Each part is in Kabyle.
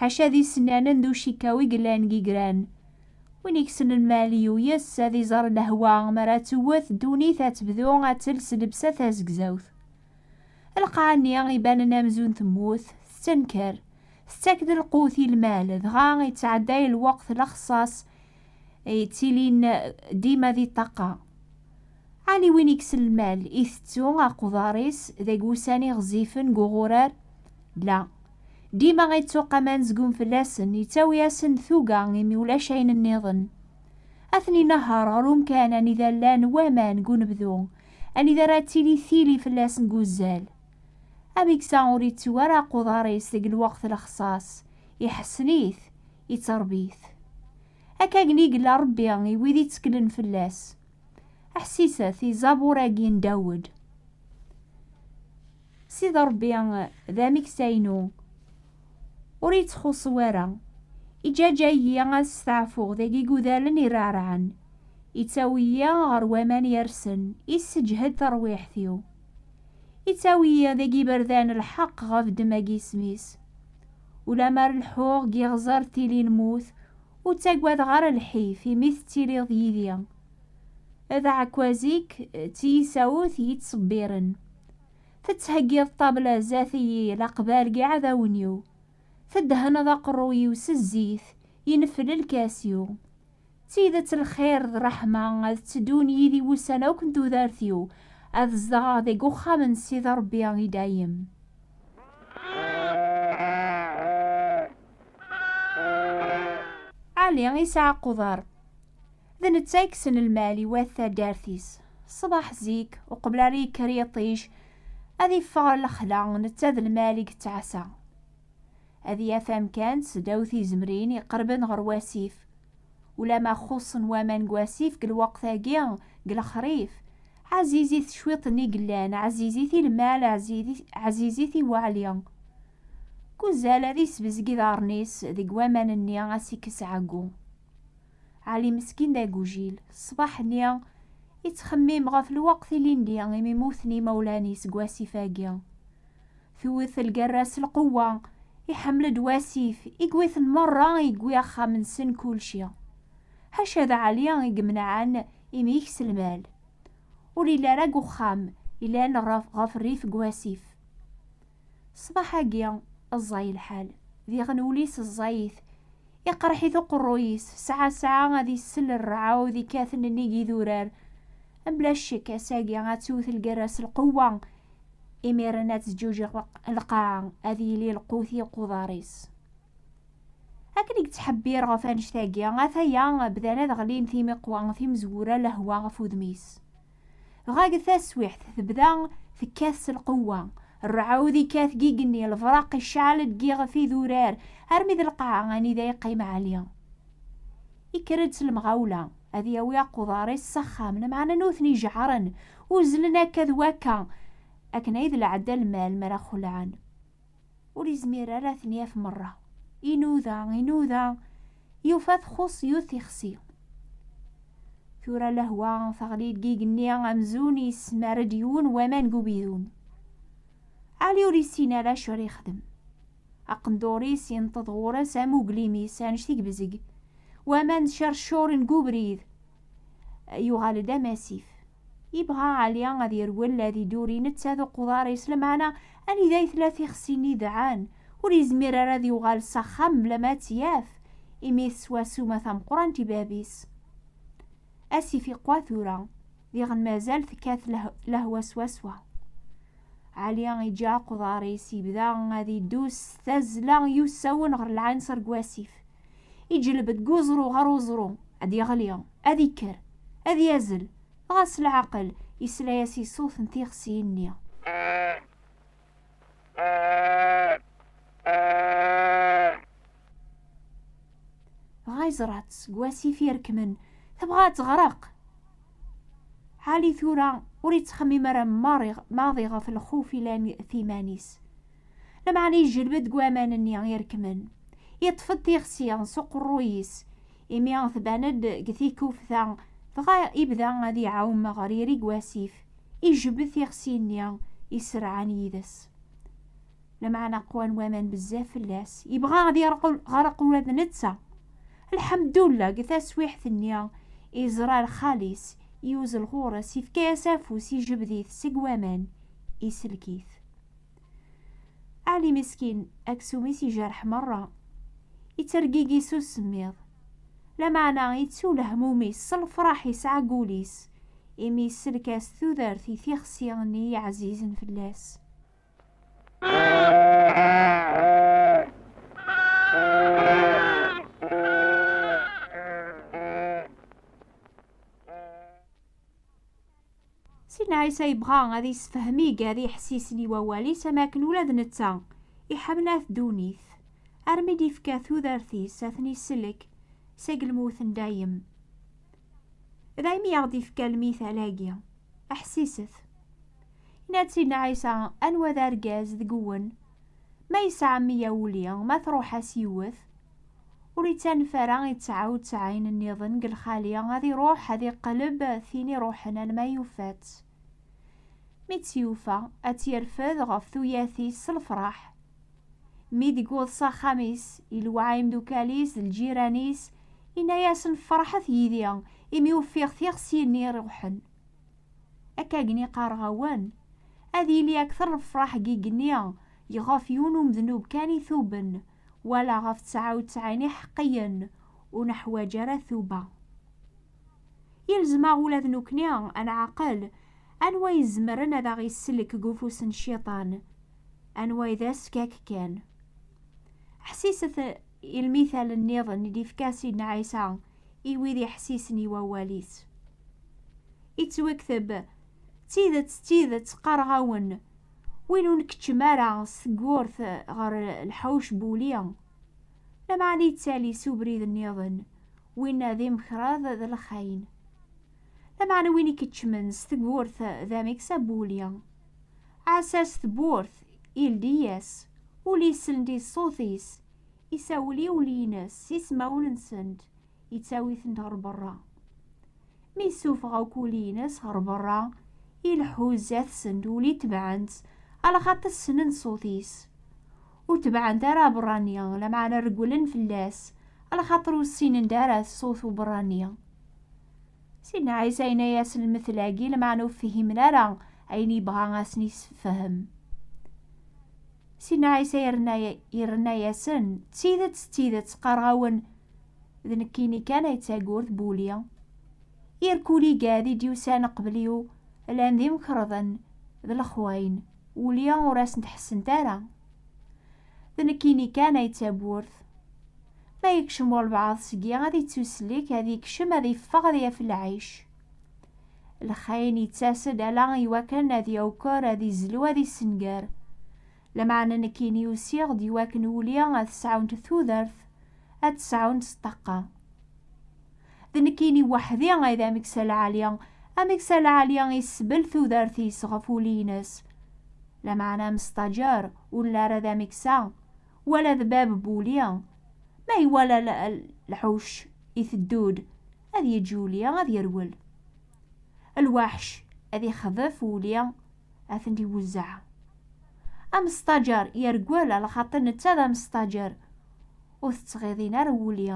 Ḥaca d isennanen d ucikaw i yellan deg igran. Win i yessnen Maliyu yes-s ad iẓer lehwa mi ara tewwet ddunit ad tebdu ad tels lebsa tazegzawt. Lqaɛ-nni ibanen amzun temmut, tettenker, tettak-d lqut i lmal, dɣa yettɛedday lweqt lexṣaṣ yettilin dima di ṭṭaqa. Ɛni win ikes lmal itettu aqḍar-is deg wussan iɣezifen n uɣurar? La. Dima ittuq aman zgun fell-asen, yettawi-asen-d tuga imi ulac ayen nniḍen. Ad ten-inehher ɣer umkan anida llan waman deg unebdu, anida ara tili tili fell-asen deg uzzal. Ameksa ur ittu ara aqḍar-is deg lweqt lexṣaṣ, iḥessen-it, itteṛbi-t. Akka gen i yella Ṛebbi i wid itteklen fell-as. Aḥsiset i ẓẓabur-agi n Dawed. Sid Ṛebbi d ameksa-inu, ur yettxuṣṣu ara. Iǧaǧa-iyi ad steɛfuɣ deg igudalen ireɛreɛen, ittawi-yi ɣer waman yersen, isseǧhed tarwiḥt-iw. Ittawi-yi deg iberdan n lḥeqq ɣef ddemma n yisem-is. Ulamar leḥḥuɣ g iɣẓer tili lmut ur ttagadeɣ ara lḥif imi tettiliḍ yidi. D aɛekkaz-ik d tiyisawt i yi-ttṣebbiren. Tettheggiḍ ṭṭabla zdat-iyi laqbal g iɛdawen-iw, teddehneḍ aqerru-iw s zzit, yennefel lkas-iw. D tidet lxir d ṛṛeḥma ad tteddun yid-i wussan akk n tudert-iw, ad zedɣeɣ deg uxxam n Sidi Ṛebbi i dayem. Ali isɛa quder, d netta i yekksen lmal i wat taddart-is. Ṣṣbeḥ zik, uqbel ara yekker yiṭij, ad yeffeɣ ɣer lexla, netta d lmal i yettɛassa. ad yaf amkan seddaw tizemrin iqerben ɣer wasif. Ulama xuṣṣen waman deg wasif deg lweqt-agi, deg lexrif, ɛzizit cwiṭ-nni yellan, ɛzizit i lmal, ɛzizit i weɛli. Deg uzal, ad isbezg iḍarren-is deg waman-nni, ad s-ikkes ɛeggu. Ɛli meskin d agujil, ṣṣbeḥ-nni, ittxemmim ɣef lweqt ilindi imi mmuten yimawlan-is deg wasif-agi. Tewwet lgerra s lqewwa, iḥemmel-d wasif, i yewwiten merra i yewwi axxam-nsen kulci. Ḥaca d Ɛli i yemneɛen imik s lmal. Ur yelli ara deg uxxam, yellan ɣef rrif n wasif. Ṣṣbeḥ-agi, ẓẓay lḥal, diɣen ul-is ẓẓayit, iqerreḥ-it uqerruy-is, sɛa sɛa ad isel rrɛud ikkaten nnig idurar. Mebla ccek, ass-agi ad tewwet lgerra s lqewwa, imiren ad teǧǧuǧiɣ lqaɛa ad yili lqut i uquḍar-is akken i yettḥebbir ɣef annect-agi ataya bdan ad ɣlin timiqwa timezwura lehwa ɣef udem-is dɣa deg taswiḥt tebda tekkat s lqewwa rrɛud ikkat deg igenni lefraq iceɛl-d deg iɣef idurar armi d lqaɛa anida yeqqim ɛli ikker-d s lemɣawla ad yawi aquḍar-is s axxam, lameɛna nutni jeɛren, uzzlen akka d wakka, akken ay d lɛada lmal mi ara xulɛen, ur yezmir ara ad ten-yaf merra. Inuda, inuda, yufa txuṣṣ yiwet tixsi. Tura lehwa teɣli-d deg yigenni amzun yessemar-d yiwen waman deg ubidun. Ɛli ur yessin ara acu ara yexdem. Aqendur-is inṭeḍ ɣur-s am uglim-is anect i yebzeg, waman cercuren deg ubrid, yuɣal-d am asif. Yebɣa Ɛli ad yerwel ad iduri netta d uquḍar-is, lameɛna anida i tella tixsi n yidɛan, ur yezmir ara ad yuɣal s axxam mlama ad tt-yaf, imi teswa ssuma tameqqrant i bab-is. Asif iqwa tura, diɣen mazal tekkat lehwa swaswa. Ɛli iǧǧa aqḍar-is, yebda ad iddu s tazzla i usawen ɣer lɛinṣer n wasif. Iǧelleb-d deg uẓru ɣer uẓru, ad yeɣli, ad ikker, ad yazzel, dɣa s leɛqel yesla-as i ṣṣut n tixsi-nni. dɣa yeẓra-tt seg wasif irekmen tebɣa ad teɣreq Ali tura ur yettxemmim ara maḍi ɣef lxuf ilan timan-is lameɛna yejleb-d deg waman-nni irekmen yeṭṭef-d tixsi s uqerruy-is imi tban-d deg tikufta dɣa ibda ad iɛum ɣer irig wasif ijebbed tixsi-nni iserɛan yid-s Lameɛna qqwan waman bezzaf fell-as, yebɣa ad yerqel ɣer-q ula d netta. Lḥemdullah, deg taswiḥt-nni, iẓra ar xali-s, yuzzel ɣur-s, yefka-as afus, ijebd-it seg waman, isellek-it. Ali meskin, aksum-is ijerreḥ merra, yettergigi s usemmiḍ. Lameɛna ittu lehmum-is s lefraḥ yesɛa deg ul-is, imi yessellek-as tudert i tixsi-nni iɛzizen fell-as. Sina Isa yebɣa ad yessefhem iger iḥessisen i wawal-is am akken ula d netta iḥemmel at ddunit armi d-ifka tudert-is ad ten-isellek seg lmut n dayem. Daymi aɣ-d-ifka lmital-agi, ḥsiset. Yenna-d Sidna Ɛisa, anwa d argaz deg-wen, ma yesɛa meyya wuli, ma truḥ-as yiwet, ur ittanef ara i tesɛa u tesɛin nniḍen deg lxali, ad iruḥ ad iqleb tin iruḥen alma yufa-tt. Mi tt-yufa, ad tt-irfed ɣef tuyat-is s lefraḥ, Mi d-yewweḍ s axxam-is, iluɛa imdukal-is d lǧiran-is, inna-yasen, Ferḥet yid-i, imi ufiɣ tixsi-nni iruḥen. Akkagni qqareɣ-awen, ad yili akter lefraḥ deg igenni yɣef yiwen umednub kan ituben, wala ɣef ttɛa utɛin iḥeqqiyen, ur neḥwaǧ ara tuba. Yelzem-aɣ ula d nekkni ad nɛaqel anwa ay izemren ad aɣ-yesselk deg ufus n Cciṭan, anwa ay d askak kan. Ḥsiset i lmithal niḍen i d-yefka Sidna Ɛisa i wid iḥessisen i wawal-is. Yettwakteb, D tidet, d tidet, qqareɣ-awen, win ur nkeččem ara s tewwurt ɣer lḥewc n wuli, lameɛna yettali s ubrid niḍen, Winna d imekṛad d lexayen. Lameɛna win i keččmen s tewwurt d ameks a Buli. Ɛassa-s tewwurt, ildi-yas, ul isel-d i ṣṣut-is, isawel i ul-ines s ismawen-nsen-d, ittawi-ten-d ɣer berra. Mi issufeɣ akk ul-ines ɣer berra, ileḥḥu zdat-sen-d ul itebɛen-tt, alaxaṭ ssnen ṣṣut-is. ur tebɛent ara aberrani, lameɛna regglen fell-as, lxaṭer ur ssinen-d ara ṣṣut uberrani. Sidna Ɛisa yenna-as lmetl-agi, lameɛna ur fhimen ara ayen yebɣa a sen-yessefhem. Sidna Ɛisa yerna-yasen, D tidet, d tidet, qqareɣ-awen, d nekkini kan ay d tagurt n wuli. Irkul igad i d-yusan qbel-iw llan d imkerḍen, d lexwayen. Uli ur asent-ḥessent ara. D nekkini kan ay d tawwurt. Ma yekcem walbaɛḍ seg-i ad yettuslek, ad yekcem, ad yeffeɣ, ad yaf lɛic. Lxayen yettas-d ala i wakken ad yawker, ad yezlu, ad yessenger. Lameɛna nekkini usiɣ-d i wakken uli ad sɛunt tudert, ad tt-sɛunt s ṭṭaqqa. D nekkini weḥd-i ay d Ameksa Lɛali. Ameksa Lɛali isbel tudert-is ɣef ul-ines. Lameɛna amestajer ur nelli ara d ameksa, wala d bab buli. Ma iwala lḥuc iteddu-d, ad yeǧǧ uli ad yerwel. Lwaḥc ad ixḍef uli ad ten-iwezzeɛ. Amestajer yergel ala xaṭi netta d amestajer, ur t-ttɣiḍin ara uli.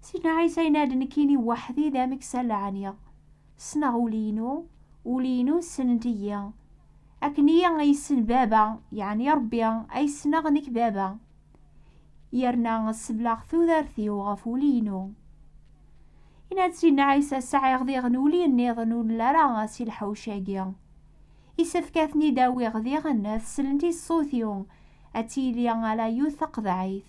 Sidna Ɛisa yenna-d nekkini weḥdi d ameksa laɛniɣ. Ssneɣ ul-inu, ul-inu ssnent-iyi. Akken iyi ay yessen Baba, yeɛni Ṛebbi, ay ssneɣ nekk Baba. Yerna sebleɣ tudert-iw ɣef ul-inu. Yenna-d Sidna Ɛisa, Sɛiɣ diɣen uli nniḍen ur nla ara si lḥewc-agi. Yessefk ad ten-id-awiɣ diɣen, ad slent i ṣṣut-iw, ad tili ala yiwet taqeḍɛit.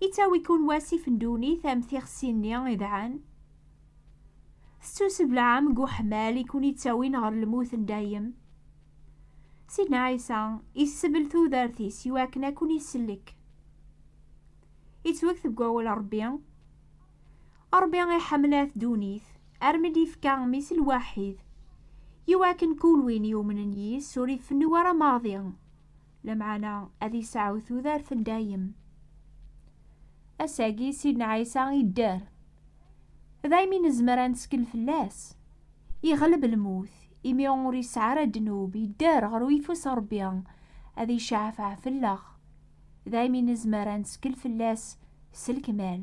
Yettawi-ken wasif n ddunit am tixsi-nni idɛan. Tettuseblaɛem deg uḥmal i ken-yettawin ɣer lmut n dayem. Sidna Ɛisa yessebl tudert-is i wakken ad ken-isellek. Yettweg-t deg wawal Rebbi. Rebbi iḥemmel at ddunit armi d-yefka Mmi-s lwaḥid, i wakken kul win yumnen yis-s ur ifennu ara maḍi. Lameɛna ad iseɛɛu tudert n dayem. Ass-agi, Sidna Ɛisa idder. Daymi nezmer ad neskel fell-as. Iɣleb lmut, imi ur yesɛi ara ddnub, idder ɣer uyeffus n Rebbi, ad iceɛfeɛ fell-aɣ. Daymi nezmer ad neskel fell-as s lekmal.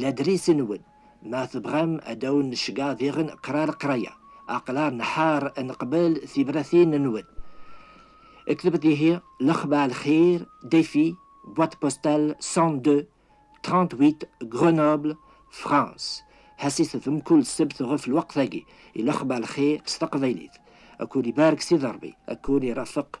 Ladris-nwen. Ma tebɣam ad awen-necgeɣ diɣen qra leqraya, aql-aɣ nḥar ad neqbel tibratin-nwen. Ktebt ihi Lexbar Lxir, Défi, boîte postale 102 38 Grenoble, France. Ḥesset-d mkul ssebt ɣef lweqt-agi i Lexbar Lxir s taqbaylit. Akul ibarek Sidi Ṛebbi, akul irafeq